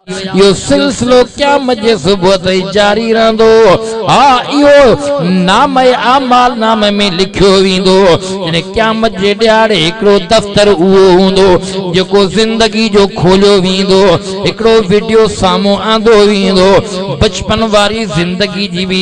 اهو سلسلو قيامت جي صبح تائين جاري رهندو. ها اهو نامه اعمال نامه ۾ لکيو ويندو. يعني قيامت جي ڏهاڙي هڪڙو دفتر اهو هوندو جيڪو زندگي جو کوليو ويندو. هڪڙو وڊيو سامهون آندو ويندو. بچپن واري زندگي جي به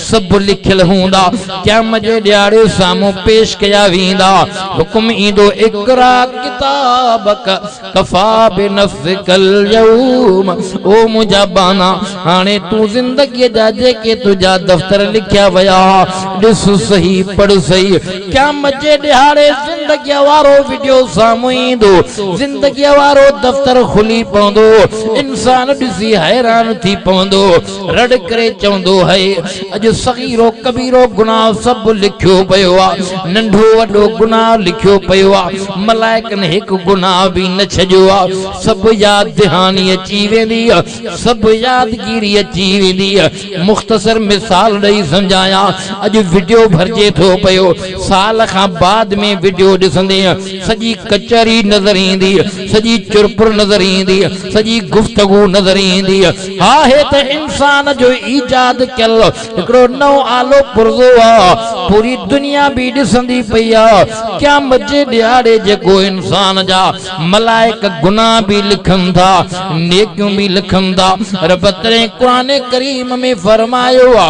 سڀ لکيل هوندا، قيامت جي ڏهاڙي سامهون پيش ڪيا ويندا، حڪم ايندو اقرا ڪتابڪ ڪفا بنفسڪ اليوم او منهنجا ٻانها هاڻي تون زندگيء جا جيڪي تنهنجا دفتر لکيا ويا ها ڏس سهي پڙهه سهي قيامت جي ڏهاڙي زندگيء وارو وڊيو سامهون ايندو زندگيء وارو دفتر کلي پوندو انسان ڏسي حيران ٿي پوندو. رڙ ڪري چوندو آهي اڄ صغيرو ڪبيرو گناهه سڀ لکيو پيو آ ننڍو وڏو گناهه لکيو پيو آ ملائڪن هڪ گناهه به نه ڇڏيو آ سڀ ياد دهاني اچي ويندي سڀ يادگيري اچي ويندي مختصر مثال ڏئي سمجهايان اڄ وڊيو ڀرجي ٿو پيو سال کان بعد ۾ وڊيو ڏسندي سڄي ڪچهري نظر ايندي سڄي چرپر نظر ايندي سڄي گفتگو نظر ايندي آهي ته انسان جو ايجاد ڪيل هڪڙو نئون آلو پرزو آ، پوري دنيا به ڏسندي پئي آ، قيامت جي ڏهاڙي جيڪو انسان جا ملائڪ گناهه به لکن ٿا نيڪيون به لکن ٿا، رب تڏهن قرآن ڪريم ۾ فرمايو آ.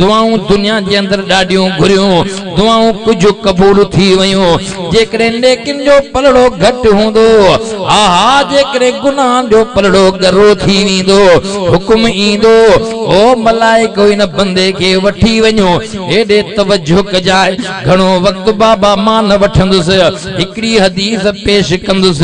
دعائون دنيا جي اندر ڏاڍيون گهريون، دعائون ڪجهه قبول ٿي ويون، جيڪڏهن نيڪين جو پلڙو گهٽ هوندو، ها ها جيڪڏهن گناهن جو پلڙو ڳرو ٿي ويندو، حڪم ايندو، او ملائڪو هن بندي کي وٺي وڃو، هيڏي توجه ڪجاء، گهڻو وقت بابا مان نه وٺندس، هڪڙي حديث پيش ڪندس،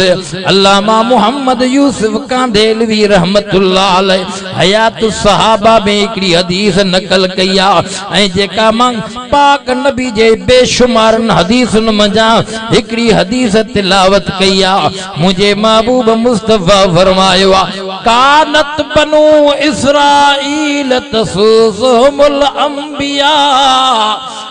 علامه محمد يوسف ڪانڌيلوي رحمة الله عليه حيات الصحابه ۾ هڪڙي حديث نقل ڪئي آهي ۽ جيڪا مان پاڪ نبي جي بي شمارن حديثن منجهان هڪڙي حديث تلاوت ڪئي آهي منهنجي محبوب مصطفيٰ فرمايو آهي ڪانت بنو اسرائيل تسوسهم الانبياء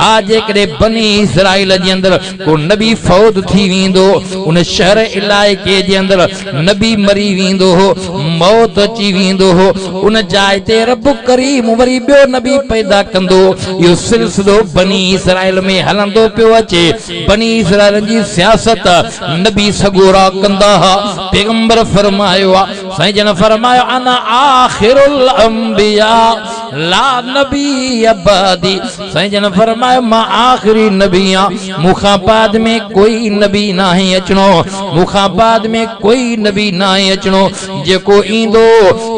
ها جيڪڏهن بني اسرائيل جي اندر ڪو نبي فوت ٿي ويندو هو ان شهر علائقي جي اندر نبي مري ويندو هو موت اچي ويندو هو ان جاء تي رب ڪريم وري ٻيو نبي پيدا ڪندو هو اهو سلسلو بني اسرائيل ۾ هلندو پيو اچي بني اسرائيلن جي سياست نبي سڳورا ڪندا ها پيغمبر فرمايو آهي سائين جن فرمايو انا آخر الانبياء لا نبي بعدي سائين جن فرمايو مان آخري نبي آهيان مون کان بعد ۾ ڪوئي نبي ناهي اچڻو مون کان بعد ۾ ڪوئي نبي ناهي اچڻو جيڪو ايندو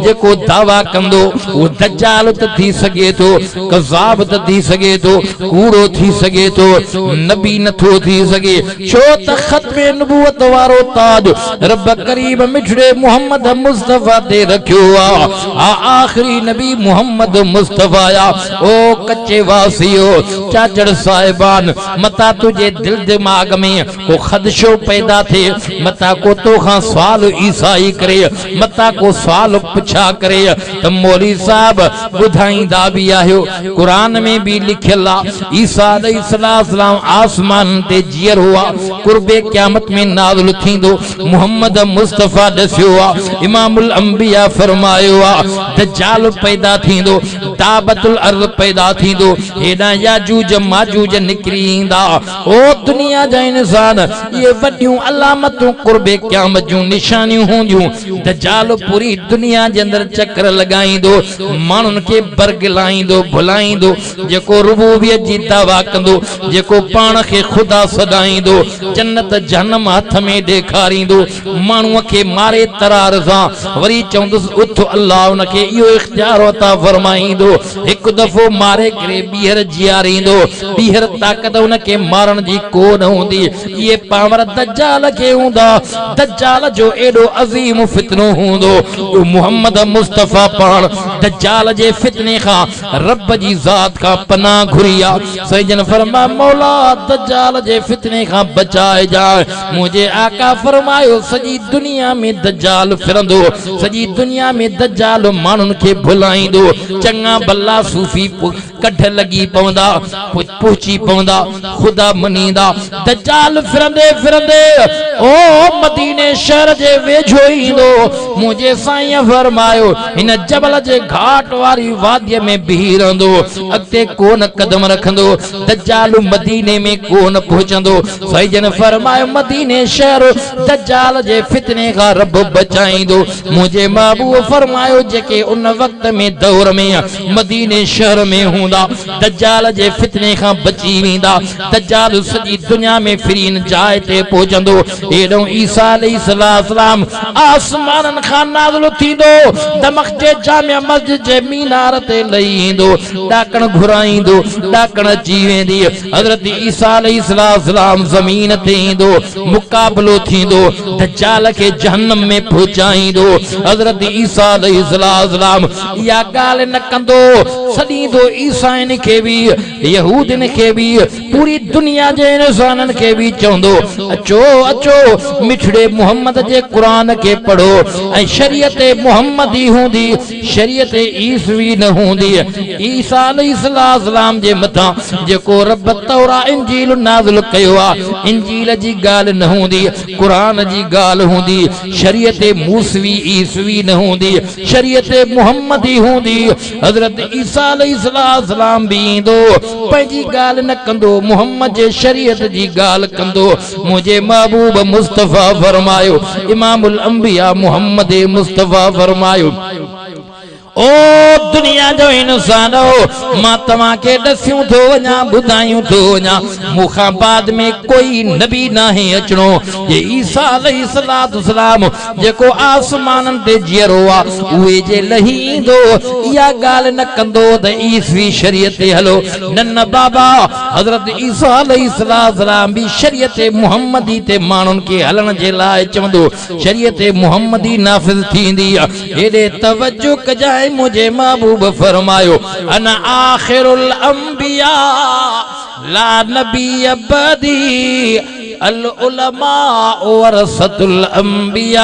جيڪو دعويٰ ڪندو اهو دجال ته ٿي سگهي ٿو ڪذاب ته ٿي سگهي ٿو ڪوڙو ٿي سگهي ٿو نبي نٿو ٿي سگهي ڇو ته ختم نبوت وارو تاج رب ڪريم مٺڙي محمد مصطفيٰ تي رکيو آ. آ آخري نبي محمد مصطفيٰ آ. او ڪچي واسيو! چاچڙ صاحبان! متان تنهنجي دل دماغ ۾ ڪو خدشو پيدا ٿئي، متان ڪو تو کان سوال عيسائي ڪري، متان ڪو سوال پڇا ڪري ته مولوي صاحب ٻڌائيندا به آهيو، قرآن ۾ به لکيل آ عيسيٰ عليه السلام آسمانن تي جيئر هئا قرب قيامت ۾ نازل ٿيندو محمد مصطفيٰ ڏسيو آ امام الانبياء فرمايو آ دجال پيدا ٿيندو دابت الارض پيدا ٿيندو هيڏانهن ياجوج ماجوج نڪري ايندا او دنيا جا انسان اهي وڏيون علامتون قرب قيامت جون نشانيون هونديون دجال پوري دنيا جي اندر چڪر لڳائيندو ماڻهن کي برغلائيندو ڀلائيندو، جيڪو ربوبيت جي دعويٰ ڪندو، جيڪو پاڻ کي خدا سڏائيندو، جنت جهنم هٿ ۾ ڏيکاريندو، ماڻهوء کي ماري ترار سان وري چوندس اٿ الله ان کي اهو اختيار عطا فرمائيندو، هڪ دفعو ماري ڪري ٻيهر جياريندو، ٻيهر طاقت ان کي مارڻ جي ڪو نه هوندي. اهي پاور دجال کي هوندا، دجال جو ايڏو عظيم فتنو هوندو جو محمد مصطفيٰ پاڻ دجال جي فتني کان رب جي ذات کان پناهه گهري آ، سائين جن فرماء مولا دجال جي فتني کان بچائجانء، منهنجي آقا فرمايو سڄي دنيا ۾ دجال ڦرندو، سڄي دنيا ۾ دجال ماڻهن کي ڀلائيندو، چڱا ڀلا صوفي ڪڍ لڳي پوندا پهچي پوندا خدا مڃيندا دجال ڦرندي ڦرندي او مديني شهر جي ويجهو ايندو منهنجي سائين فرمايو هن جبل جي گهاٽ واري وادي ۾ بيهي رهندو اڳتي ڪون قدم رکندو دجال مديني ۾ ڪون پهچندو سائينجن فرمايو مديني شهر دجال جي فتني کان رب بچائيندو منهنجي محبوب فرمايو جيڪي ان وقت ۾ دور ۾ مديني شهر ۾ هوندا، دجال جي فتني کان بچي ويندا. دجال سڄي دنيا ۾ پھرين جاء تي پهچندو. هيڏئون عيسيٰ عليه السلام آسمانن کان نازل ٿيندو، دمشق جي جامع مسجد جي مينار تي لهي ايندو، ڏاڪڻ گهرائيندو، ڏاڪڻ اچي ويندي، حضرت عيسيٰ عليه السلام زمين تي ايندو، مقابلو ٿيندو، دجال کي جهنم ۾ پهچائيندو، حضرت عيسيٰ عليه السلام. اها ڳالهه نه ڪندو، سڏيندو عيسائين کي به، يهودين کي به، پوري دنيا جي انسانن کي به چوندو، اچو، اچو، مٺڙي محمد جي قرآن کي پڙهو ۽ شريعت محمدي هوندي، شريعت عيسوي نه هوندي، عيسيٰ عليه السلام جي مٿان جيڪو رب تورا انجيل نازل ڪيو آهي، انجيل جي ڳالهه نه هوندي، قرآن جي ڳالهه هوندي، شريعت موسوي عيسوي نه هوندي. شريعت محمدي هوندي، حضرت عيسيٰ عليه السلام به ايندو، پنهنجي ڳالهه نه ڪندو، محمد جي شريعت جي ڳالهه ڪندو. منهنجي محبوب مصطفيٰ فرمايو، امام الانبياء محمد مصطفيٰ فرمايو. او دنيا جو انسانؤ! مان توهان کي ڏسيون ٿو وڃان، ٻڌايون ٿو وڃان، مون کان بعد ۾ ڪوئي نبي ناهي اچڻو. جي عيسيٰ عليه السلام جيڪو آسمانن تي جيئرو آ اهي جي لهي ايندو اها ڳالهه نه ڪندو ته عيسوي شريعت تي هلو نه نه بابا حضرت عيسيٰ عليه السلام به شريعت محمدي تي ماڻهن کي هلڻ جي لاء چوندو شريعت محمدي نافذ ٿيندي هيڏي توجه ڪجانء منهنجي محبوب فرمايو انا آخر الانبياء لا نبي بعدي العلماء ورثة الانبياء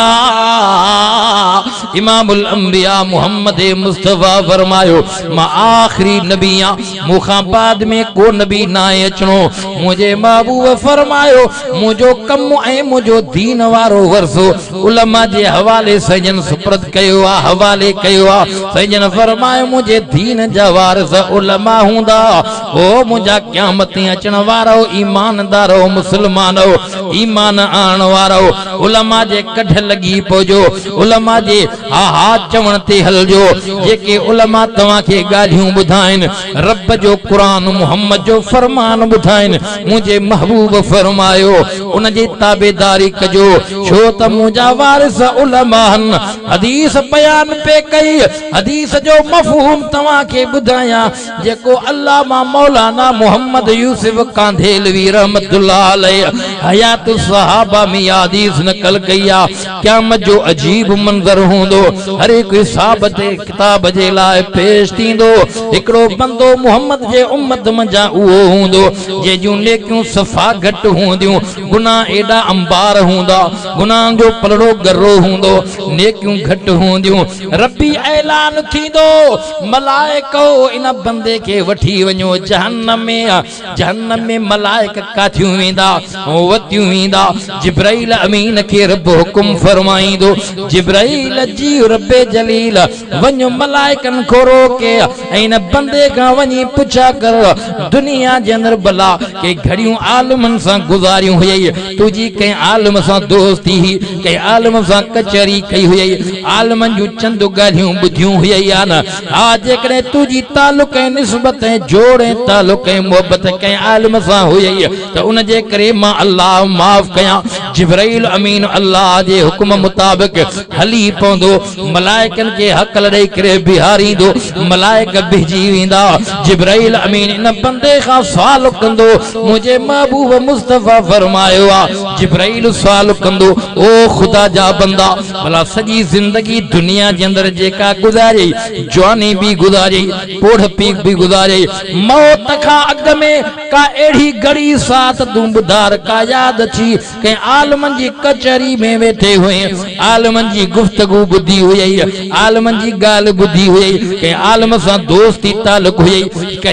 امام الانبياء محمد مصطفي فرمايو مان آخري نبي آ مون کان بعد ۾ ڪو نبي ناهي اچڻو منهنجي محبوب فرمايو منهنجو ڪم ۽ منهنجو دين وارو ورثو علماء جي حوالي سائين سپرد ڪيو آ حوالي ڪيو آ سائين جن فرمايو منهنجي دين جا وارث علماء هوندا او منهنجا قيامت تي اچڻ وارؤ ايماندارؤ مسلمانؤ ايمان آڻڻ وارؤ علماء جي ڪڍ لڳي پئجو علماء جي ها ها چوڻ تي هلجو جيڪي علماء توهان کي ڳالهيون ٻڌائين رب جو قرآن محمد جو فرمان ٻڌائين منهنجي محبوب فرمايو ان جي تابعداري ڪجو ڇو ته منهنجا وارث علماءن حديث بيان پئي ڪئي حديث جو مفهوم توهان کي ٻڌايان جيڪو علامه مولانا محمد يوسف ڪانڌيلوي رحمت الله عليه حيات الصحابه ۾ اها حديث نقل ڪئي آ، قيامت جو عجيب منظر هوندو، هر هڪ حساب تي ڪتاب جي لاء پيش ٿيندو، هڪڙو بندو محمد جي امت منجهان اهو هوندو، جنهن جون نيڪيون صفا گهٽ هونديون، گناهه ايڏا انبار هوندا، گناهن جو پلڙو ڳرو هوندو، نيڪيون گهٽ هونديون. ربي اعلان ٿيندو، ملائڪؤ ان بندي کي وٺي وڃو جهنم ۾، جهنم ۾ ملائڪ ڪاٿيون ويندا، وتيون ويندا، جبرائيل امين کي رب حڪم فرمائيندو، جبرائيل جي رب جليل وڃ ملائڪن کان روڪي، ان بندي کان وڃي پڇا ڪر دنيا جي اندر بلا ڪي گهڙيون عالمن سان گذاريون هيئي تنهنجي ڪنهن عالم سان دوستي هئي ڪنهن عالم سان ڪچهري ڪئي هيئي عالمن جون چند ڳالهيون ٻڌيون هيئي يا نه ها جيڪڏهن تنهنجي تعلق ۽ نسبت ۽ جوڙ ۽ تعلق ۽ محبت ڪنهن عالم سان هيئي ته ان جي ڪري مان الله معاف ڪيان جبرئيل امين الله جي حڪم مطابق هلي پوندو ملائڪن کي هڪل ڏئي ڪري بيهاريندو، ملائڪ بيهجي ويندا، جبرائيل امين ان بندي کان سوال ڪندو، منهنجي محبوب مصطفيٰ فرمايو آ، جبرائيل سوال ڪندو، او خدا جا بندا! ڀلا سڄي زندگي دنيا جي اندر جيڪا گذاريئي، جواني به گذاريئي، پوڙهپي به گذاريئي، موت کان اڳ ۾ ڪا اهڙي گهڙي، ساعت، دونبدار ڪا ياد اٿئي، ڪنهن عالمن جي ڪچهري ۾ ويٺي هئين، عالمن جي گفتگو ٻڌي هئي، عالمن جي ڳالهه ٻڌي هئي، ڪنهن عالم سان دوستي تعلق هئي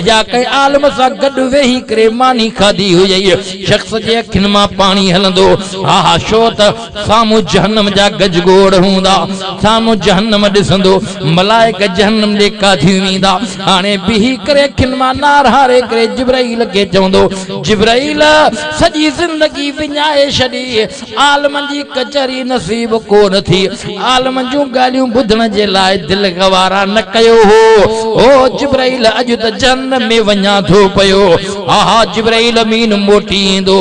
يا ڪنهن عالم سان گڏ ويهي ڪري ماني کاڌي هئي. شخص جي اکين مان پاڻي هلندو ها ها ڇو ته سامهون جهنم جا گج گوڙ هوندا، سامهون جهنم ڏسندو، ملائڪ جهنم ڏي ڪاڌيون ويندا، هاڻي بيهي ڪري اکين مان نار هاري ڪري جبرائيل کي چوندو. جبرئيل سڄي زندگي وڃائي ڇڏي، عالمن جي ڪچهري نصيب ڪونه ٿي، عالمن جون ڳالهيون ٻڌڻ جي لاء دل گوارا نه ڪيو هو، هو جبرئيل اڄ ته جهنم ۾ وڃان ٿو پيو، هاها جبرئيل امين موٽي ايندو،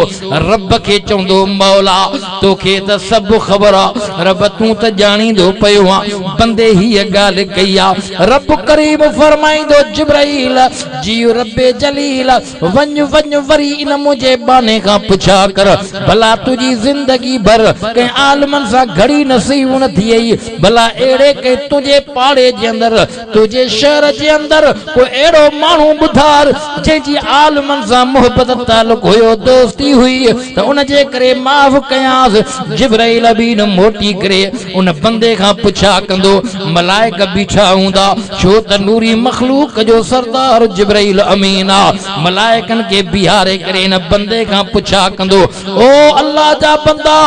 رب کي چوندو مولا توکي ته سڀ خبر آ، رب تون ته ڄاڻيندو پيو آن بندي هيء ڳالهه ڪئي آ، رب ڪريم فرمائيندو جبرئيل جيء رب جليل وڃ وڃ وري ان منهنجي ٻانهي کان پڇا ڪر، ڀلا تنهنجي زندگي ڀر ڪنهن عالمن سان گهڙي نصيحون نه ٿي ايئي؟ ڀلا اهڙي ڪنهن تنهنجي پاڙي جي اندر، تنهنجي شهر جي اندر ڪو اهڙو ماڻهو ٻڌار، جنهن جي عالمن سان محبت تعلق هيو، دوستي هئي ته ان جي ڪري معاف ڪيانس. جبرائيل امين موٽي ڪري ان بندي کان پڇا ڪندو، ملائڪ بيٺا هوندا، ڇو ته نوري مخلوق جو سردار جبرئيل امين آ، ملائڪن کي بيهاري ڪري ان بندي کان پڇا ڪندو، او الله جا بندا!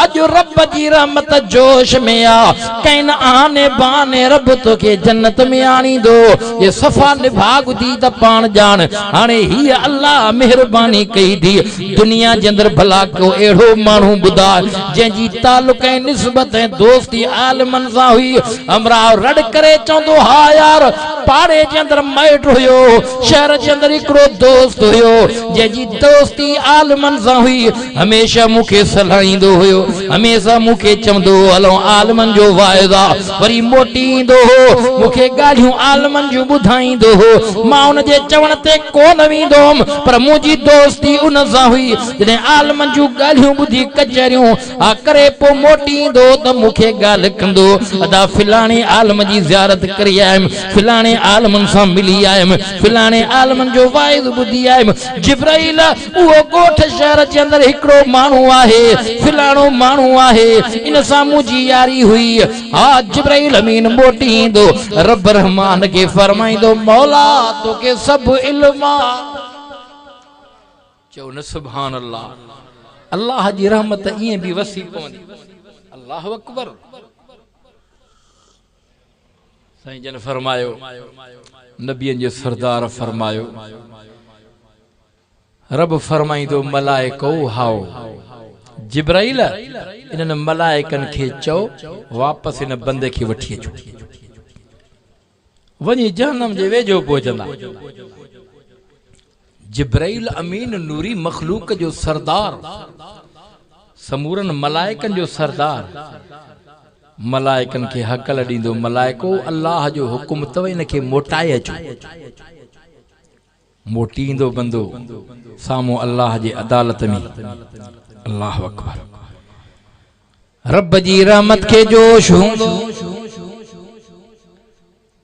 اڄ رب جي رحمت جوش ۾ آ، ڪئن اهاني بهاني رب توکي جنت ۾ آڻيندو؟ جي صفا نڀاڳ ٿي ته پاڻ ڄاڻ، هاڻي هيء الله مهرباني ڪئي ٿي، دنيا جي اندر ڀلا ڪو اهڙو ماڻهو ٻڌاء، جنهن جي تعلق ۽ نسبت ۽ دوستي عالمن سان هئي. همراهه رڙ ڪري چوندو، ها يار! پاڙي جي اندر مائٽ هيو. شهر جي اندر هڪڙو دوست هيو، جنهن جي دوستي عالمن سان هئي. هميشه مون کي سلهائيندو هيو. هميشه مون کي چوندو هو، هلون عالمن جو واعظ آ. وري موٽي ايندو هو، مون کي ڳالهيون عالمن جون ٻڌائيندو هو. مان ان جي چوڻ تي ڪو نه ويندو هوم، پر منهنجي دوستي ان سان هئي. جڏهن عالمن جون ڳالهيون ٻڌي ڪچهريون ها ڪري پوء موٽي ايندو هو ته مون کي ڳالهه ڪندو هو، ادا فلاڻي عالم جي زيارت ڪري آيم، فلاڻي عالمن سان ملي آيم، فلاڻي عالمن جو واعظ ٻڌي آيم. جبرائيل! اهو ڳوٺ شهر جي اندر هڪڙو ماڻهو آهي، فلاڻو ماڻهو آهي، ان سان منهنجي ياري هئي. ها جبرئيل امين موٽي ايندو، رب الرحمان کي فرمائيندو، مولا توکي سڀ علم آ. چئو نه سبحان الله. الله جي رحمت ائين به وسي پوندي. الله اڪبر. سائين جن فرمايو، نبين جي سردار فرمايو، رب فرمائين ٿو ملائڪؤ هائو! جبرائيل! انهن ملائڪن کي چئو واپس هن بندي کي وٺي اچو. وڃي جهنم جي ويجهو پهچندا. جبرئيل امين نوري مخلوق جو سردار، سمورن ملائڪن جو سردار، ملائڪن کي هڪل ڏيندو، ملائڪو الله جو حڪم اٿو هن کي موٽائي اچو. موٽي ايندو بندو سامهون الله جي عدالت ۾. الله اڪبر. رب جي رحمت کي جوش هوندو.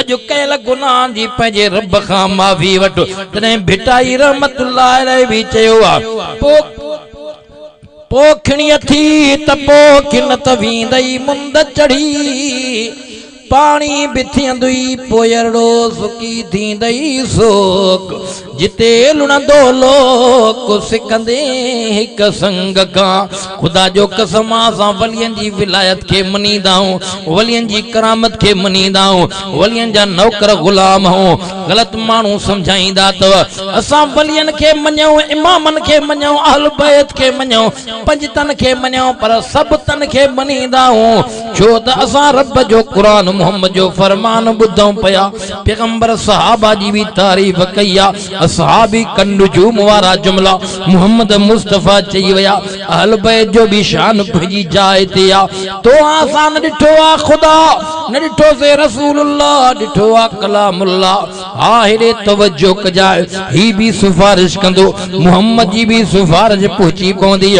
اڄ ڪيل گناهن جي پنهنجي رب کان معافي وٺ تڏهن ڀٽائي رحمت الله عليه به چيو ها پو پو کڻي اٿي ته پو کن ته ويندئي مند چڙهي پاڻي به ٿيندئي پويرڙو سڪي ٿيندئي سوڪ جتي لڻندو لوڪ سڪندي هڪ سنگ کان خدا جو قسم اسان ولين جي ولايت کي مڃيندا آهيون ولين جي ڪرامت کي مڃيندا آهيون ولين جا نوڪر غلام آهيون غلط ماڻهو سمجهائيندا اٿو اسان ولين کي مڃيون امامن کي مڃيون اهل بيت کي مڃيون پنجتن کي مڃيون پر سڀ تن کي مڃيندا آهيون ڇو ته اسان رب جو قرآن محمد جو فرمان ٻڌون پيا، پيغمبر صحابه جي به تعريف ڪئي آ، اصحابي ڪالنجوم وارا جملا محمد مصطفيٰ چئي ويا، اهل بيت جو به شان پنهنجي جاء تي آ، تو اسان نه ڏٺو آ خدا، نه ڏٺوسين رسول الله، ڏٺو آ ڪلام الله. ها هيڏي توجه ڪجاء هي به سفارش ڪندو محمد جي به سفارش پهچي پوندي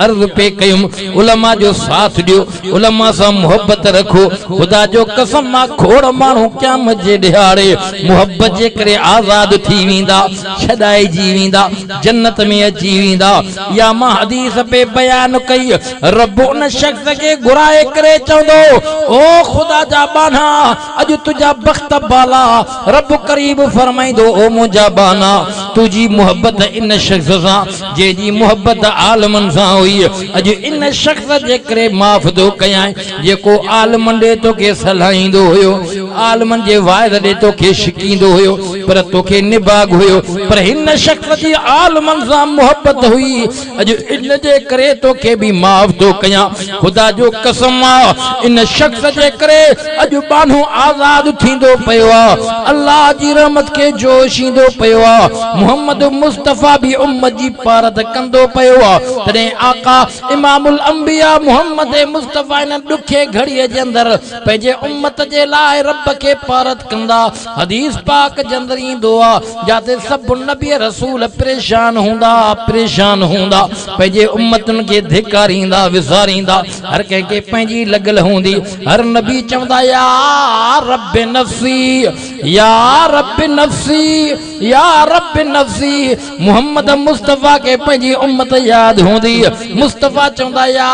عرض پي ڪيم علماء جو ساٿ ڏيو علماء سان محبت رکو خدا جو قسم مان کوڙ ماڻهو قيامت جي ڏهاڙي محبت جي ڪري آزاد ٿي ويندا ڇڏائجي ويندا جنت ۾ اچي ويندا اها مان حديث پي بيان ڪئي رب ان شخص کي گهرائي ڪري چوندو او خدا جا ٻانها اڄ تنهنجا بخت بالا رب ڪريم فرمائيندو او منهنجا ٻانها تنهنجي محبت ان شخص سان جنهن جي محبت عالمن سان هئي اڄ ان شخص جي ڪري معاف ٿو ڪيانء جيڪو عالمن ڏي توکي سلهائيندو هيو عالمن جي واعظ ڏي توکي شڪيندو هيو پر توکي نڀاڳ هيو پر هن شخص جي عالمن سان محبت هئي اڄ ان جي ڪري توکي به معاف ٿو ڪيان. خدا جو قسم آ ان شخص جي ڪري اڄ ٻانهو آزاد ٿيندو پيو آ. الله جي رحمت کي جوش ايندو پيو آ. محمد مصطفيٰ به امت جي پارت ڪندو پيو آ. تڏهن آقا امام الانبياء محمد مصطفيٰ ان ڏکي گهڙيء جي اندر پنهنجي امت جي لاء رب کي پارت ڪندا حديث پاڪ جندر ايندو آ جاتي سڀ نبي رسول پريشان هوندا پريشان هوندا پنهنجي امتن کي ڌڪاريندا وساريندا هر ڪنهن کي پنهنجي لڳل هوندي هر نبي چوندا يا رب نفسي يا رب نفسي يا رب نفسي محمد مصطفي کي پنهنجي امت ياد هوندي مصطفي چوندا يا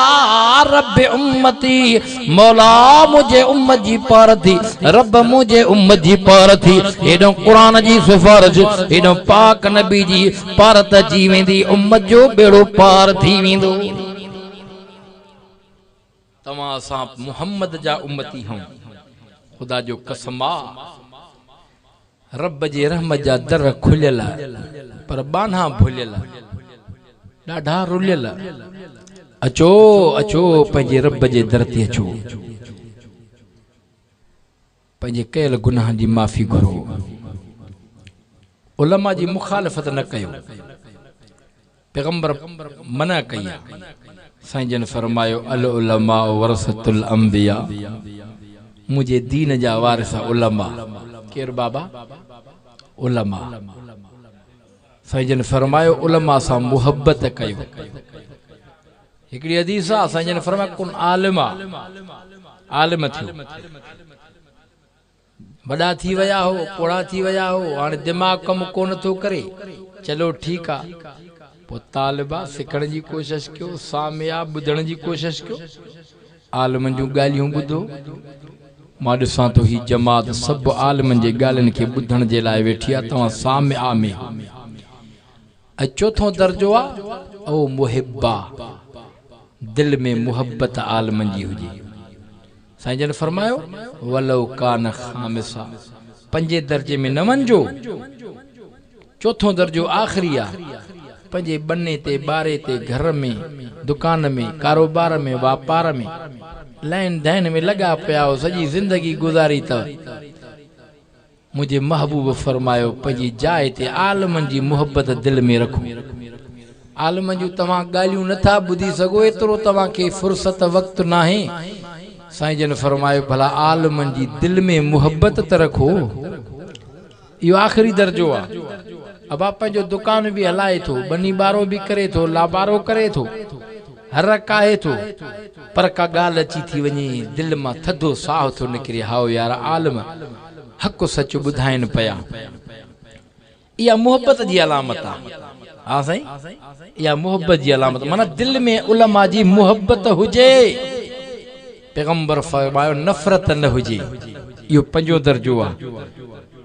رب امتي مولا منهنجي امت جي پار ٿي رب منهنجي امت جي پار ٿي هيڏو قرآن جي سفارش هيڏو پاڪ نبي جي پار ته اچي ويندي امت جو ٻيڙو پار ٿي ويندو توهان اسان محمد جا امتي هون خدا جو قسم آ رب جي رحمت جا در کليل، پر ٻانها ڀليل، ڏاڍا رليل، اچو اچو پنهنجي رب جي در تي اچو، پنهنجي ڪيل گناهن جي معافي گهرو، علماء جي مخالفت نه ڪيو، پيغمبر منع ڪئي آ. سائين جن فرمايو العلماء ورثة الانبياء منهنجي دين جا وارث علماء ڪير بابا؟ علماء سائين جن فرمايو علماء سان محبت ڪيو هڪڙي حديث آ سائين جن فرمايو ڪن عالما عالم ٿيو. وڏا ٿي ويا هو، پوڙها ٿي ويا هو، هاڻي دماغ ڪم ڪونه ٿو ڪري. چلو ٺيڪ آ. پوء طالبا سکڻ جي ڪوشش ڪيو، ساميا ٻڌڻ جي ڪوشش ڪيو. عالمن جون ڳالهيون ٻڌو. مان ڏسان ٿو هي جماعت سڀ عالمن جي ڳالهين کي ٻڌڻ جي لاء ويٺي آ، توهان ساميا ۾ هو. اهو چوٿون درجو آ او محبا دل ۾ محبت عالمن جي هجي سائين جن فرمايو ولو ڪان خامسا پنجين درجي ۾ نه وڃجو چوٿون درجو آخري آ پنهنجي ٻني تي ٻاري تي گهر ۾ دڪان ۾ ڪاروبار ۾ واپار ۾ لائين دائين ۾ لڳا پيا آهو سڄي زندگي گذاري ته منهنجي محبوب فرمايو پنهنجي جاء تي عالمن جي محبت دل ۾ رکو. عالمن جون توهان ڳالهيون نه ٿا ٻڌي سگهو ايترو توهان کي فرصت وقت ناهي. سائين جن فرمايو ڀلا عالمن جي دل ۾ محبت ته رکو. اهو آخري درجو آ. ابا پنهنجو دڪان به هلائي ٿو، ٻني ٻارو به ڪري ٿو، لابارو ڪري ٿو. هرک آهي ٿو، پر ڪا ڳالهه اچي ٿي وڃي، دل مان ٿڌو ساهه ٿو نڪري، هائو يار، عالم حق سچ ٻڌائين پيا. اها محبت جي علامت آ. ها سائين، اها محبت جي علامت، معنيٰ دل ۾ علماء جي محبت هجي. پيغمبر فرمايو، نفرت نه هجي. اهو پنجون درجو آ.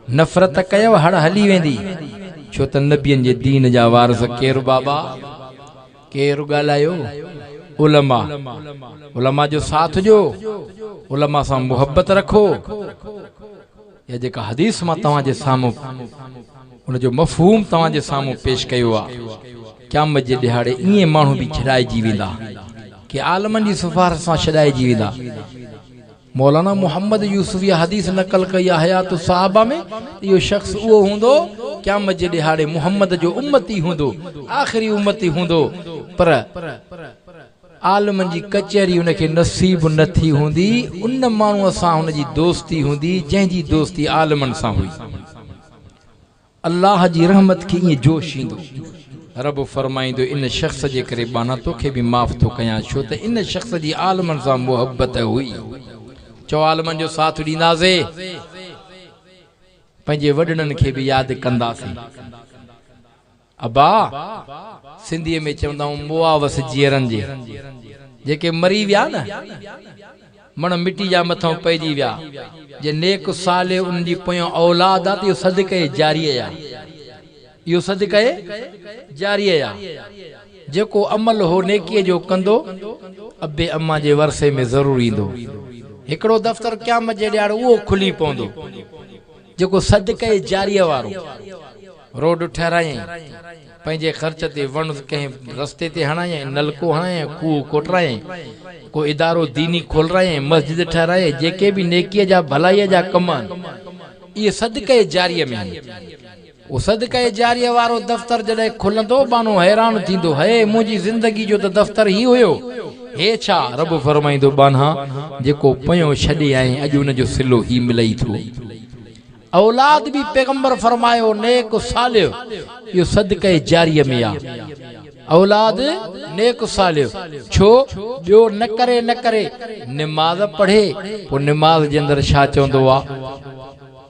نفرت ڪيو، هڙ هلي ويندي. ڇو ته نبين جي دين جا وارث ڪير بابا؟ ڪير ڳالهايو؟ علماء. علماء جو ساٿ ڏيو، علماء سان محبت رکو. اها جيڪا حديث مان توهان جي سامهون ان جو مفهوم توهان جي سامهون پيش ڪيو آهي. قيامت جي ڏهاڙي ائين ماڻهو به ڇڏائجي ويندا، ڪي عالمن جي سفارش سان ڇڏائجي ويندا. مولانا محمد يوسفيء حديث نقل ڪئي آهي حيات الصحابه ۾ ته اهو شخص اهو هوندو، قيامت جي ڏهاڙي محمد جو امتي هوندو، آخري امتي هوندو، پر عالمن جي ڪچهري ان کي نصيب نه ٿي هوندي، ان ماڻهوء سان هن جي دوستي هوندي، جنهن جي دوستي عالمن سان هئي. الله جي رحمت کي ائين جوش ايندو. رب فرمائيندو، ان شخص جي ڪري ٻانهان توکي به معاف ٿو ڪيان، ڇو ته ان شخص جي عالمن سان محبت هئي. چؤ عالمن جو ساٿ ڏينداسي. پنهنجي وڏڙن کي به ياد ڪنداسين. ابا، سنڌيء ۾ چوندا آهيون مئا وس جيئرن جي، جيڪي مري ويا نه. مڻ مٽي جا مٿئون پئجي ويا، جي نيڪ صالح انهن جي پويان اولاد آ ته اهو صدقه جاريه آ، اهو صدقه جاريه آ، جيڪو عمل هو نيڪيء جو ڪندو، ابي اما جي ورثي ۾ ضرور ايندو. هڪڙو دفتر قيامت جي ڏهاڙي اهو کلي پوندو. جيڪو صدقه جاريه وارو روڊ ٺهرايائين، پنهنجي خرچ تي وڻ ڪنهن رستي تي هڻايائين، نلڪو هڻايائين، کوهه کوٽرايائين، ڪو ادارو ديني کولرايائين، مسجد ٺهرايائين، جيڪي به نيڪيء جا ڀلائيء جا ڪم آهن، اهي صدقه جاريه ۾ آهن. هو صدقه جاريه وارو دفتر جڏهن کلندو، بانو حيران ٿيندو، هيء منهنجي زندگي جو ته دفتر هي هيو. هي ڇا؟ رب فرمائيندو، ٻانها، جيڪو پنيو ڇڏي آئين، اڄ ان جو صلو هي ملئي ٿو. اولاد به پيغمبر فرمايو، نيڪ صالح، اهو صدقه جاريه ۾ آ. اولاد، نيڪ صالح، ڇو؟ ٻيو نه ڪري نه ڪري، نماز پڙهي، پوء نماز جي اندر ڇا چوندو آ؟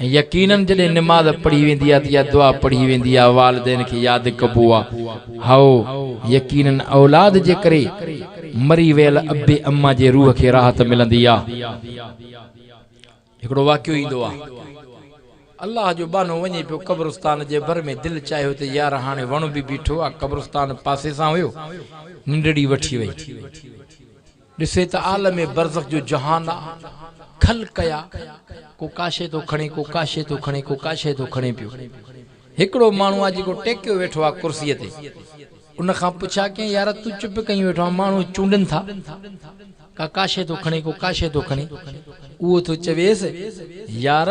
۽ يقينن جڏهن نماز پڙهي ويندي آهي ته يا دعا پڙهي ويندي آهي والدين کي ياد ڪبو آهي هائو، يقينن اولاد جي ڪري مري ويل ابي اما جي روح کي راحت ملندي آهي. هڪڙو واقعو ايندو آهي الله جو ٻانهو وڃي پيو قبرستان جي ڀر ۾ دل چاهيو ته يار هاڻي وڻ به بيٺو آهي قبرستان پاسي سان هيو ننڊڙي وٺي وئي. ڏسي ته عالم برزخ جو جهان آ. کل ڪيا، ڪو ڪا شيء ٿو کڻي، ڪو ڪا شيء ٿو کڻي، ڪو ڪا شيء ٿو کڻي پيو. هڪڙو ماڻهو آ جيڪو ٽيڪيو ويٺو آ ڪرسيء تي. ان کان پڇيا ڪيائين، يار تون چپ ڪيون ويٺو آهين، ماڻهو چونڊن ٿا. ڪا ڪا شيء ٿو کڻي، ڪو ڪا شيء ٿو کڻي. اهو ٿو چويس، يار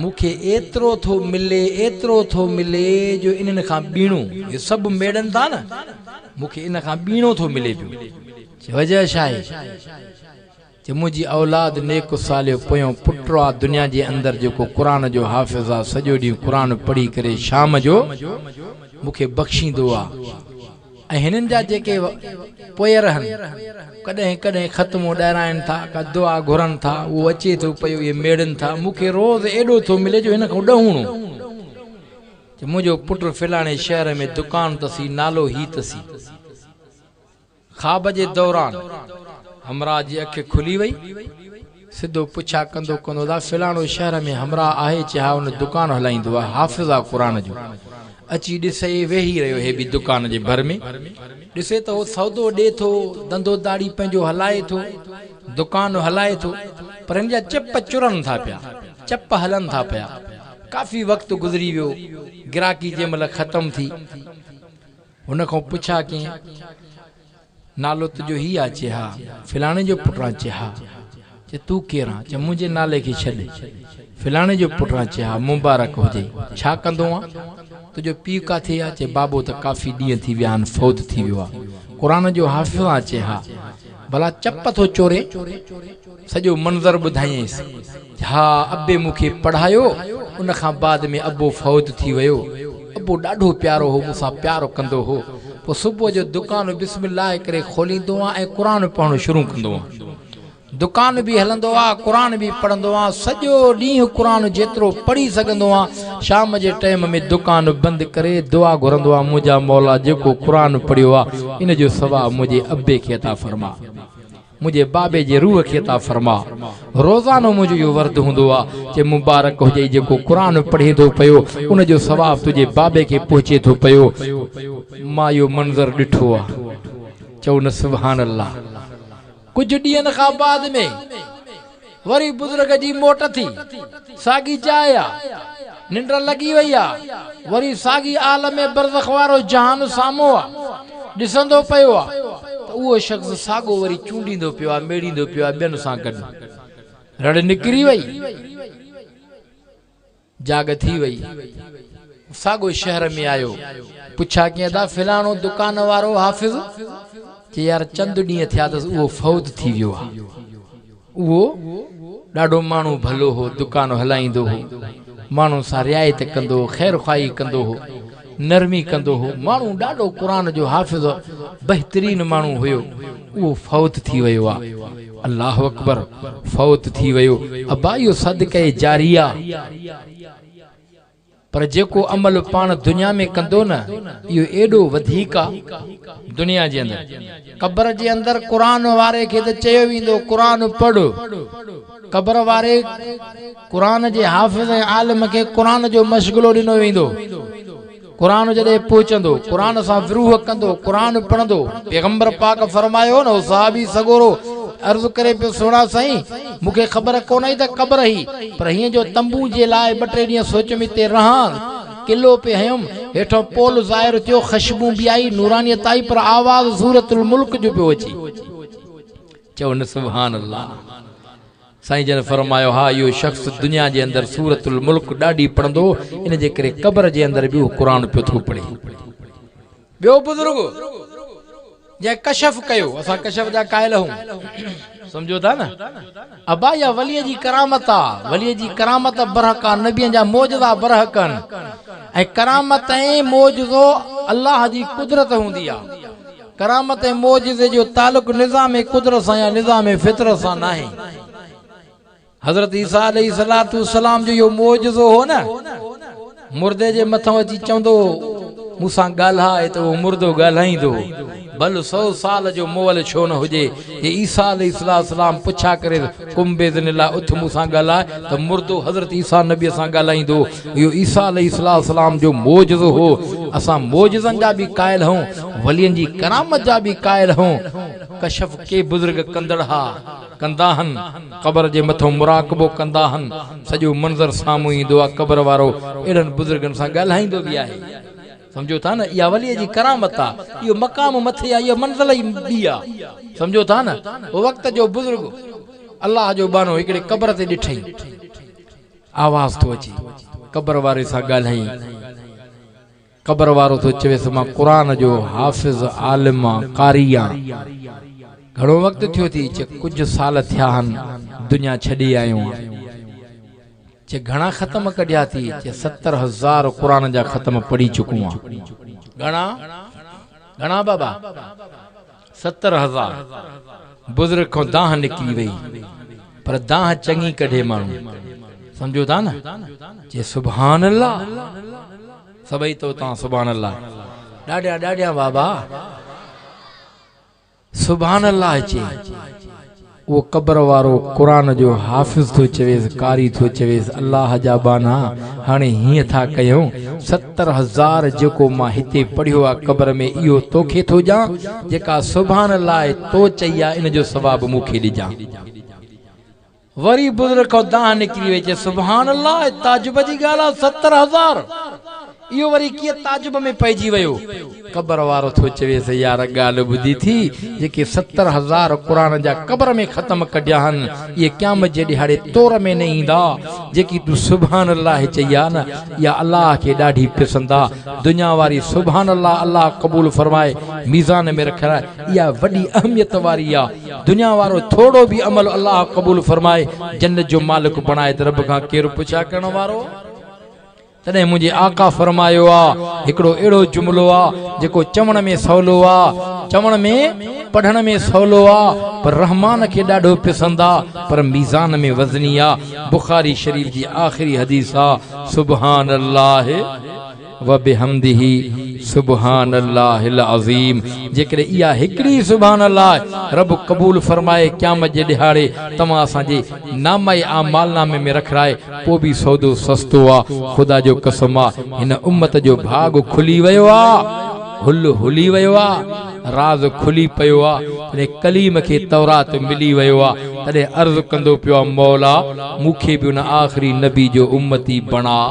مون کي ايترو ٿو ملي، ايترو ٿو ملي جو انهن کان ٻيڻو، اهي سڀ ميڙن ٿا نه، مون کي ان کان ٻيڻو ٿو ملي پيو. وجهه ڇا آهي جو منهنجي اولاد نيڪ و صالح پويون پٽ آ دنيا جي اندر جيڪو قرآن جو حافظ آ سڄو ڏينهن قرآن پڙهي ڪري شام جو مون کي بخشيندو آ ۽ هنن جا جيڪي پويرهن ڪڏهن ڪڏهن ختمون ڏهرائين ٿا ڪا دعا گهرن ٿا اهو اچي ٿو پيو اهي ميڙن ٿا مون کي روز ايڏو ٿو ملي جو هن کان ڏهوڻو جو منهنجو پٽ فلاڻي شهر ۾ دڪان تسي نالو هي تسي. خواب جي دوران همراهه جي اک کلي وئي. سڌو پڇا ڪندو ڪندو ادا فلاڻو شهر ۾ همراهه آهي چي ها ان دڪان هلائيندو آهي حافظ آ قرآن جو اچي ڏس اي ويهي رهيو هي به دڪان جي ڀر ۾ ڏسي ته هو سودو ڏي ٿو دندو داڙهي پنهنجو هلائي ٿو دڪان هلائي ٿو پر هن جا چپ چرن ٿا پيا چپ هلن ٿا پيا ڪافي وقت گذري ويو گراڪي جنهن مهل ختم ٿي هن کان پڇا ڪين نالو تنهنجو هي آ؟ چي ها. فلاڻي جو پٽ آن؟ چي ها. چي تون ڪير آن؟ چي منهنجي نالي کي ڇڏ. فلاڻي جو پٽ آن؟ چي ها. مبارڪ هجئي. ڇا ڪندو آن؟ تنهنجو پيء ڪاٿي آ؟ چي بابو ته ڪافي ڏينهن ٿي ويا آن فوت ٿي ويو آ. قرآن جو حافظ آن؟ چي ها. ڀلا چپ ٿو چورين؟ سڄو منظر ٻڌايئينس. جا ابي مون کي پڙهايو ان کان بعد ۾ ابو فوت ٿي ويو ابو ڏاڍو پيارو هو مون سان پيار ڪندو هو پوء صبح جو دڪان بسم الله ڪري کوليندو هان ۽ قرآن پڙهڻ شروع ڪندو هان دڪان به هلندو ها قرآن به پڙهندو هان سڄو ڏينهن قرآن جيترو پڙهي سگهندو هان شام جي ٽيم ۾ دڪان بند ڪري دعا گهرندو هان منهنجا مولا جيڪو قرآن پڙهيو ها ان جو ثواب منهنجي ابي کي عطا فرما. منهنجي بابي جي روح کي عطا فرما. روزانو منهنجو اهو ورد هوندو آ چي مبارڪ هجئي جيڪو قرآن پڙهي ٿو پيو ان جو ثواب تنهنجي بابي کي پهچي ٿو پيو. مان اهو منظر ڏٺو آ. چئو نه سبحان الله. ڪجهه ڏينهن کان بعد ۾. وري بزرگ جي موٽ ٿي. ساڳي جاء آ. ننڊ لڳي وئي آ. وري ساڳي عالم برزخ وارو جهان سامهون آ. ڏسندو پيو آ ته اهو شخص ساڳو وري چونڊيندو پيو آ، ميڙيندو پيو آ ٻين سان گڏ. رڙ نڪري وئي. جاڳ ٿي وئي. هو ساڳئي شهر ۾ آيو. پڇا ڪيئن ٿا فلاڻو دڪان وارو حافظ؟ چي يار چند ڏينهن ٿيا اٿس اهو فوت ٿي ويو آ. اهو ڏاڍو ماڻهو ڀلو هو، دڪان هلائيندو هو، ماڻهن سان رعايت ڪندو هو، خيرخواهي ڪندو هو. نرمي ڪندو هو ماڻهو ڏاڏو قرآن جو حافظ بهترين ماڻهو هيو اهو فوت ٿي ويو آ الله اڪبر فوت ٿي ويو ابا اهو صدقه جاري آ پر جيڪو عمل پاڻ دنيا ۾ ڪندو نه اهو ايڏو وڌيڪ آ دنيا جي اندر قبر جي اندر قرآن واري کي ته چيو ويندو قرآن پڙهه قبر واري قرآن جي حافظ ۽ عالم کي قرآن جو مشغلو ڏنو ويندو. قرآن جڏهن پهچندو، قرآن سان وروح ڪندو، قرآن پڙهندو. پيغمبر پاڪ فرمايو هو نه هو صحابي سڳورو عرض ڪري پيو سهڻا سائين! مون کي خبر ڪونه هئي ته قبر هئي، پر هينئن جو تنبوء جي لاء ٻه ٽي ڏينهن سوچيم اتي رهان، قلعو پئي هنيم، هيٺئون پول ظاهر ٿيو، خوشبون به آئي، نورانيت آئي، پر آواز سورة الملڪ جو پيو اچي. چئو نه سبحان الله! سائين جن فرمايو ها اهو شخص دنيا جي اندر سورة الملڪ ڏاڍي پڙهندو ان جي ڪري قبر جي اندر به اهو قرآن پيو ٿو پڙهي. ٻيو بزرگ جنهن ڪشف ڪيو اسان ڪشف جا قائل هئون سمجهو ٿا نه ابا اها ولي جي ڪرامت آ ولي جي ڪرامت برحق آ نبين جا معجزا برحق آهن ۽ ڪرامت ۽ معجزو الله جي قدرت هوندي آ. ڪرامت ۽ معجزي جو تعلق نظام قدرت سان يا نظام فطرت سان ناهي. حضرت عيسيٰ عليه الصلوة والسلام جو اهو معجزو هو نه، مردي جي مٿان اچي چوندو هو، مون سان ڳالهاء ته اهو مردو ڳالهائيندو هو، ڀل سؤ سال جو مئل ڇو نه هجي، جي عيسيٰ عليه الصلوة والسلام پڇا ڪريس، قم باذن الله اٿ مون سان ڳالهاء ته مردو حضرت عيسيٰ نبيء سان ڳالهائيندو. اهو عيسيٰ عليه السلام جو معجزو هو. اسان معجزن جا به قائل هئون، ولين جي ڪرامت جا به قائل هئون. ڪشف ڪي بزرگ ڪندڙ ها ڪندا هن، قبر جي مٿئون مراقبو ڪندا هن، سڄو منظر سامهون ايندو آهي، قبر وارو اهڙن بزرگن سان ڳالهائيندو به آهي. سمجهو ٿا نه اها وليء جي ڪرامت آ، اهو مقام مٿي آ، اها منزل ئي ٻي آ. سمجهو ٿا نه هو وقت جو بزرگ الله جو ٻانهو هڪڙي قبر تي ڏٺئي. آواز ٿو اچي قبر واري سان ڳالهائين. قبر وارو ٿو چويس مان قرآن جو حافظ، عالم آن، قاري آن. گهڻو وقت ٿيو ٿي چه ڪجهه سال ٿيا هن دنيا ڇڏي آيو آن. چي گهڻا ختم ڪڍيا ٿي؟ چي ستر هزار قرآن جا ختم پڙهي چڪون آ. گهڻا؟ گهڻا بابا؟ ستر هزار. بزرگ کان دانهن نڪري وئي. پر دانهن چڱي ڪڍي ماڻهو. سمجهو ٿا نه؟ چي سبحان الله. سڀئي توتان سبحان الله. ڏاڍيان ڏاڍيان بابا. سبحان الله چئي اهو قبر وارو قرآن جو حافظ ٿو چويس قاري ٿو چويس الله جا ٻانها هاڻي هيئن ٿا ڪيون ستر هزار جيڪو مان هتي پڙهيو آ قبر ۾ اهو توکي ٿو ڄان جيڪا سبحان الله تو چئي آ ان جو ثواب مون کي ڏجان. وري بزرگ کان دانهن نڪري وئي چي سبحان الله اهي تعجب جي ڳالهه آهي ستر هزار اهو وري ڪيئن تعجب ۾ پئجي ويو قبر وارو ٿو چويس يار ڳالهه ٻڌي ٿي جيڪي ستر هزار قرآن جا قبر ۾ ختم ڪڍيا هن اهي قيامت جي ڏهاڙي تور ۾ نه ايندا جيڪي تون سبحان الله چئي آ نه اها الله کي ڏاڍي پسند آ دنيا واري سبحان الله الله قبول فرمائي ميزان ۾ رکرائي اها وڏي اهميت واري آ دنيا وارو ٿورڙو به عمل الله قبول فرمائي جنت جو مالڪ بڻائي ته رب کان ڪير پڇا ڪرڻ وارو آ؟ تڏهن منهنجي آقا فرمايو آ هڪڙو اهڙو جملو آ جيڪو چوڻ ۾ سولو آ چوڻ ۾ پڙهڻ ۾ سولو آ پر رحمان کي ڏاڍو پسند آ پر ميزان ۾ وزني آ بخاري شريف جي آخري حديث آ سبحان الله وبحمده سبحان الله العظيم جيڪڏهن اها هڪڙي سبحان الله رب قبول فرمائي قيامت جي ڏهاڙي توهان اسان جي نامه اعمال نامي ۾ رکرائي پوء به سودو سستو آ خدا جو قسم آ هن امت جو ڀاڳ کلي ويو آ هل هلي ويو آ راز کلي پيو آ جڏهن ڪليم کي تورات ملي ويو آ تڏهن عرض ڪندو پيو آ مولا مون کي به ان آخري نبي جو امتي بڻاء.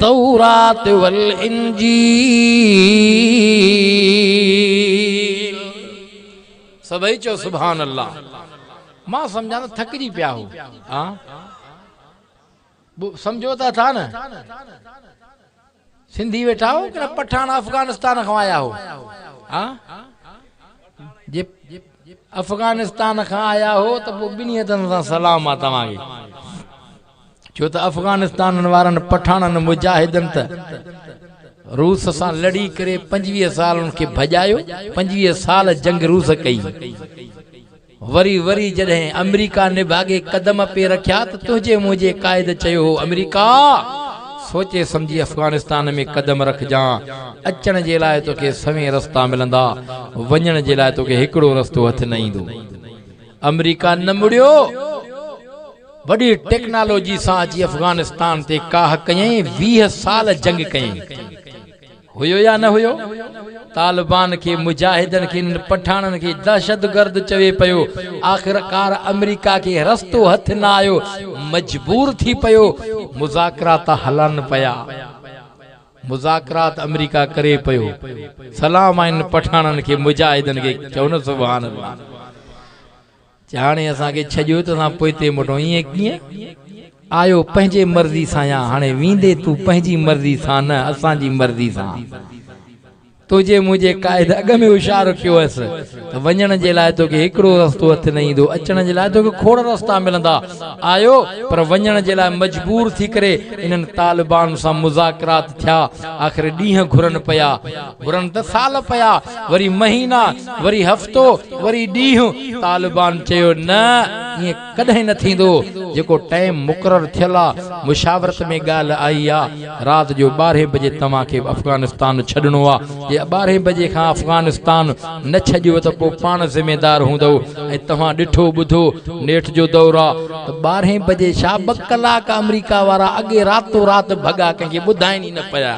تورات والانجيل سڀئي چئو سبحان الله مان سمجهان ته ٿڪجي پيا هو ها سمجهو ته اٿا نه سنڌي ويٺا هو ڪن پٺاڻ افغانستان کان آيا هو ها جي افغانستان کان آيا هو ته پوء ٻنهي هٿن سان سلام آ توهان کي ڇو ته افغانستان وارن پٺاڻن مجاهدن ته روس سان لڙي ڪري پنجويهه سال ان کي ڀڄايو، پنجويهه سال جنگ روس ڪئي، وري وري جڏهن آمريڪا نڀاڳي قدم پئي رکيا ته تنهنجي منهنجي قائد چيو هو آمريڪا! سوچي سمجهي افغانستان ۾ قدم رکجان، اچڻ جي لاء توکي سوين رستا ملندا، وڃڻ جي لاء توکي هڪڙو رستو هٿ نه ايندو. آمريڪا نه مڙيو، وڏي ٽيڪنالاجي سان اچي افغانستان تي ڪاهه ڪيائين، ويهه سال جنگ ڪيائين. هيو يا نه هيو؟ طالبان کي مجاهدن کي انهن پٺاڻن کي دهشتگرد چوي پيو، آخرڪار آمريڪا کي رستو هٿ نه آيو، مجبور ٿي پيو، مذاڪرات هلن پيا. مذاڪرات امريڪا ڪري پيو. سلام آهن پٺاڻن کي مجاهدن کي چئو نه سبحان الله جي هاڻي اسان کي ڇڄيو ته اسان پوئتي موٽون ائين ڪيئن آيو پنهنجي مرضي سان يا هاڻي ويندي تون پنهنجي مرضي سان نه اسان جي مرضي سان توجي منهنجي قائد اڳ ۾ هوشيار ڪيو هيس ته وڃڻ جي لاء توکي هڪڙو رستو هٿ نه ايندو، اچڻ جي لاء توکي کوڙ رستا ملندا. آيو پر وڃڻ جي لاء مجبور ٿي ڪري انهن طالبان سان مذاڪرات ٿيا. آخر ڏينهن گهرن پيا. گهرن ته سال پيا، وري مهينا، وري هفتو، وري ڏينهن. طالبان چيو نه ائين. ڪڏهن نه ٿيندو جيڪو ٽئم مقرر ٿيل آ مشاورت ۾ ڳالهه آئي آ رات جو ٻارهين بجي توهان کي افغانستان ڇڏڻو آ جي ٻارهين بجي کان افغانستان نه ڇڏيو ته پو پاڻ ذميدار هوندؤ ۽ توهان ڏٺو ٻڌو نيٺ جو دور آ ته ٻارهين بجي ڇا ٻه ڪلاڪ آمريڪا وارا اڳي راتو رات ڀڳا ڪنهن کي ٻڌائين ئي نه پيا.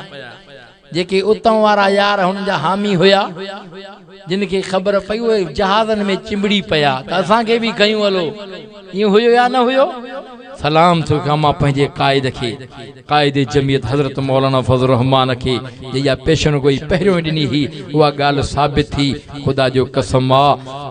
جيڪي اتان وارا يار هن جا حامي هيا، جن کي خبر پئي اهي جهازن ۾ چنبڙي پيا ته اسان کي به کنيون هلو. ائين هيو يا نه هيو؟ سلام ٿيو ڪيان مان پنهنجي قائد کي، قائد جميعت حضرت مولانا فضل الرحمان کي، جنهن جا پيشن گوئي پهريون ڏني هئي، اها ڳالهه ثابت ٿي. خدا جو قسم آ،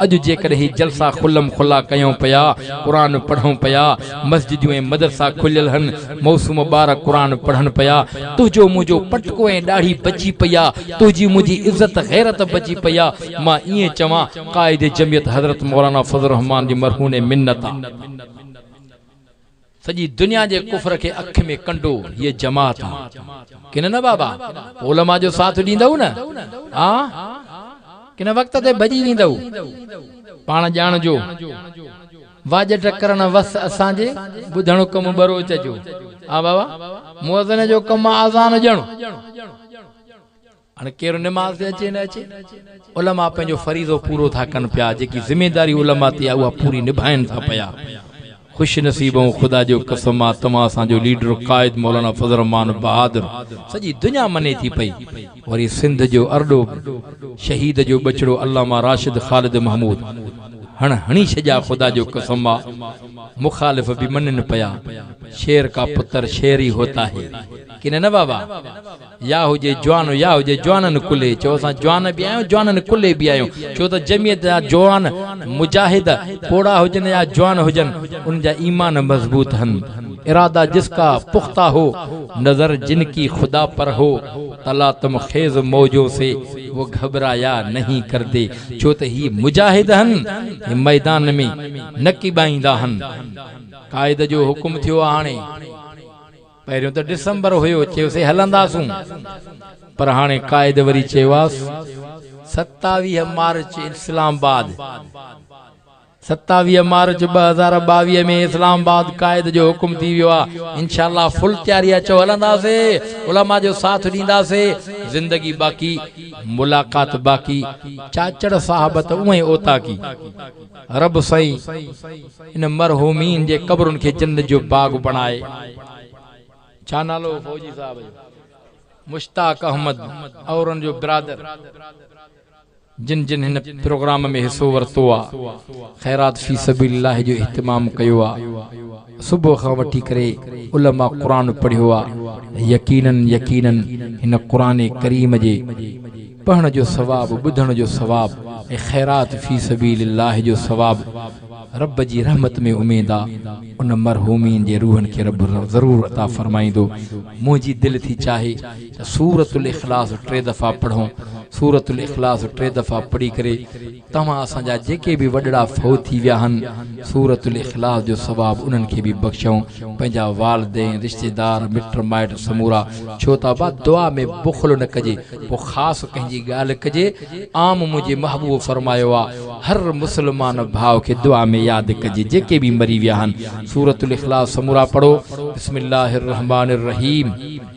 اڄ جيڪڏهن هي جلسا کلم کلا ڪيون پيا، قرآن پڙهون پيا، مسجديون ۽ مدرسا کليل هن موسم ٻار قرآن پڙهن پيا تنهنجو منهنجو پٽڪو ۽ ڏاڙهي بچي پئي آ تنهنجي منهنجي عزت غيرت بچي پئي آ مان ائين چوان قائد جمعيت حضرت مولانا فضل الرحمان جي مرهوني منت آ سڄي دنيا جي ڪفر کي اک ۾ ڪنڊو هيء جماعت آ ڪن نه بابا پوء علماء جو ساٿ ڏيندؤ نه آ ڪن وقت تي ڀڄي ويندؤ پاڻ ڄاڻجو. واڄ ٽڪر نه وس اسان جي، ٻڌڻ حڪم ٻروچ جو. آ بابا! مؤذن جو ڪم آ اذان ڏيڻ. هاڻي ڪير نماز تي اچي نه اچي، علماء پنهنجو فريضو پورو ٿا ڪن پيا، جيڪي ذميداري علماء تي آ اها پوري نڀائين ٿا پيا. خوش نصيب آهون خدا جو قسم آ توهان اسان جو ليڊر قائد مولانا فضل الرحمان بهادر سڄي دنيا مني ٿي پئي. وري سنڌ جو ارڏو شهيد جو ٻچڙو علامه راشد خالد محمود هڻ هڻي ڇڄا خدا جو قسم آ مخالف به مڃن پيا شير ڪا پتر شير ئي هوتا هي ڪي نه نه بابا يا هجي جوان يا هجي جوانن ڪلهي چئو اسان جوان به آهيون جوانن ڪلهي به آهيون ڇو ته جمعيت جا جوان مجاهد پوڙها هجن يا جوان هجن انهن جا ايمان مضبوط هن ارادا جس ڪا پختا هو نظر جن ڪي خدا پر هو، تلاطم خيز موجون سي و گهٻرايا نهين ڪردي، ڇو ته هي مجاهد هن، هي ميدان ۾ نه ڪيٻائيندا هن. قائد جو حڪم ٿيو هاڻي پهريون ته ڊسمبر هيو چيوسي هلنداسون پر هاڻي قائد وري چيواس ستاويهه مارچ اسلام آباد. ستاويهه مارچ ٻه هزار ٻاويهه ۾ اسلام آباد قائد جو حڪم ٿي ويو آ انشاء الله فل تياري اچو هلنداسي علماء جو ساٿ ڏينداسي زندگي باقي ملاقات باقي چاچڙ صاحب ته اوهين اوطاقي رب سائين ان مرحومين جي قبرن کي جنت جو باغ بڻائي ڇا نالو فوجي صاحب جو مشتاق احمد اورن جو برادر جن جن هن پروگرام ۾ حصو ورتو آ خيرات في سبيل الله جو اهتمام ڪيو آ صبح کان وٺي ڪري علماء قرآن پڙهيو آ يقينن يقينن هن قرآن ڪريم جي پڙهڻ جو ثواب ٻڌڻ جو ثواب ۽ خيرات في سبيل الله جو ثواب رب جي رحمت ۾ اميد آ ان مرحومين جي روحن کي رب ضرور عطا فرمائيندو منهنجي دل ٿي چاهي سورة الاخلاص ٽي دفعا پڙهو، سورة الاخلاص ٽي دفعا پڙهي ڪري توهان اسان جا جيڪي به وڏڙا فوت ٿي ويا آهن سورة الاخلاص جو ثواب انهن کي به بخشئون پنهنجا والدين رشتيدار مٽ مائٽ سمورا ڇو ته ابا دعا ۾ بخل نه ڪجي پوء خاص ڪنهن جي ڳالهه ڪجي عام منهنجي محبوب فرمايو آ هر مسلمان ڀاء کي دعا ۾ ياد ڪجي جيڪي به مري ويا آهن سورة الاخلاص سمورا پڙهو بسم الله الرحمٰن الرحيم.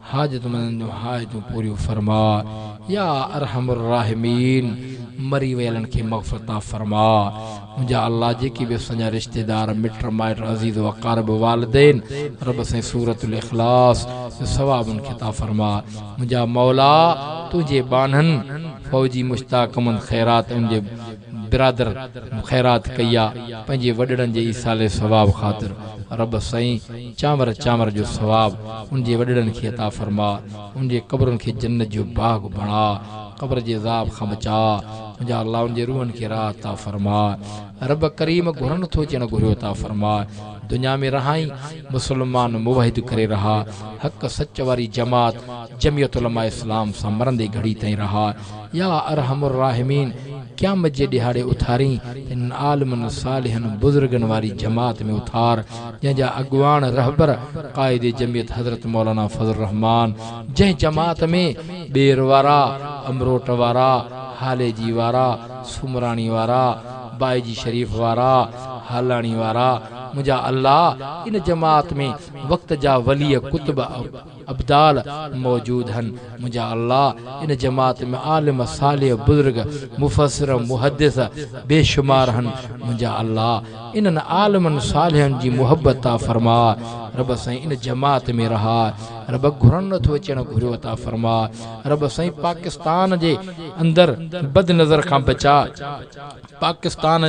حاجتمندن جون حاجتون پوريون فرماء يا ارحم الراحمين مري ويلن کي مغفرت عطا فرماء منهنجا الله جيڪي به اسان جا رشتيدار مٽ مائٽ عزيز واقارب والدين رب سائين سورة الاخلاص جو ثواب انهن کي عطا فرماء منهنجا مولا تنهنجي ٻانهن فوجي مشتاقمند خيرات انهن جي برادر خيرات ڪئي آ پنهنجي وڏڙن جي ايصال ثواب خاطر رب سائين چانور چانور جو ثواب ان جي وڏڙن کي عطا فرماء ان جي قبرن کي جنت جو باغ بڻاء قبر جي عذاب کان بچاء منهنجا الله ان جي روحن کي راحت عطا فرماء رب ڪريم گهرن ٿو چيڻ گهريو عطا فرماء دنيا ۾ رهائين مسلمان موحد ڪري رهاء حق سچ واري جماعت جميعت علماء اسلام سان مرندي گهڙي تائين رهاء يا ارحم الراحمين قيامت جي ڏهاڙي اٿارين ته انهن عالمن صالحن بزرگن واري جماعت ۾ اٿار جنهن جا اڳواڻ رهبر قائد جمعيت حضرت مولانا فضل الرحمان جنهن جماعت ۾ ٻير وارا امروٽ وارا هاليجي وارا سومراڻي وارا بائجي شريف وارا هالاڻي وارا منهنجا الله ان جماعت ۾ وقت جا ولي ڪتب ابدال موجود ھن منھنجا الله ان جماعت ۾ عالم صالح بزرگ مفسر محدث بي شمار ھن منھنجا الله انھن عالمن صالحن جي محبت عطا فرماء رب سائين ان جماعت ۾ رھاء رب گھرڻ نٿو اچڻ گھريو عطا فرماء رب سائين پاڪستان جي اندر بد نظر کان بچاء. پاڪستان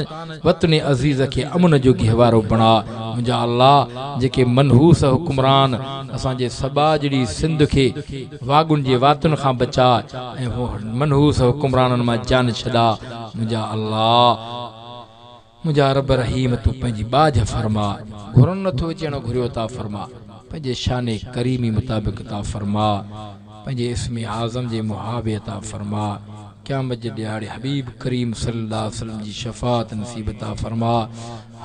وطن عزيز کي امن جو گهوارو بڻاء منهنجا الله جيڪي منحوس حڪمران اسان جي سٻاجهڙي سنڌ کي واڳن جي واتن کان بچاء ۽ هن منحوس حڪمرانن مان جان ڇڏاء منهنجا الله منهنجا رب رحيم تون پنهنجي ٻاجهه فرماء گهرن نٿو اچي اڻ گهريو عطا فرماء پنهنجي شان ڪريمي مطابق عطا فرماء. پنهنجي اسم اعظم جي محابي عطا فرماء قيامت جي ڏيهاڙي حبيب ڪريم صلي الله عليه وسلم جي شفاعت نصيب عطا فرماء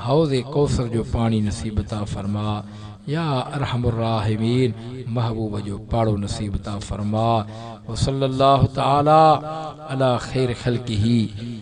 حوض ڪوثر جو پاڻي نصيب عطا فرماء يا ارحم الراحمين محبوب جو پاڙو نصيب عطا فرماء وصلي الله تعالي علي خير خلقه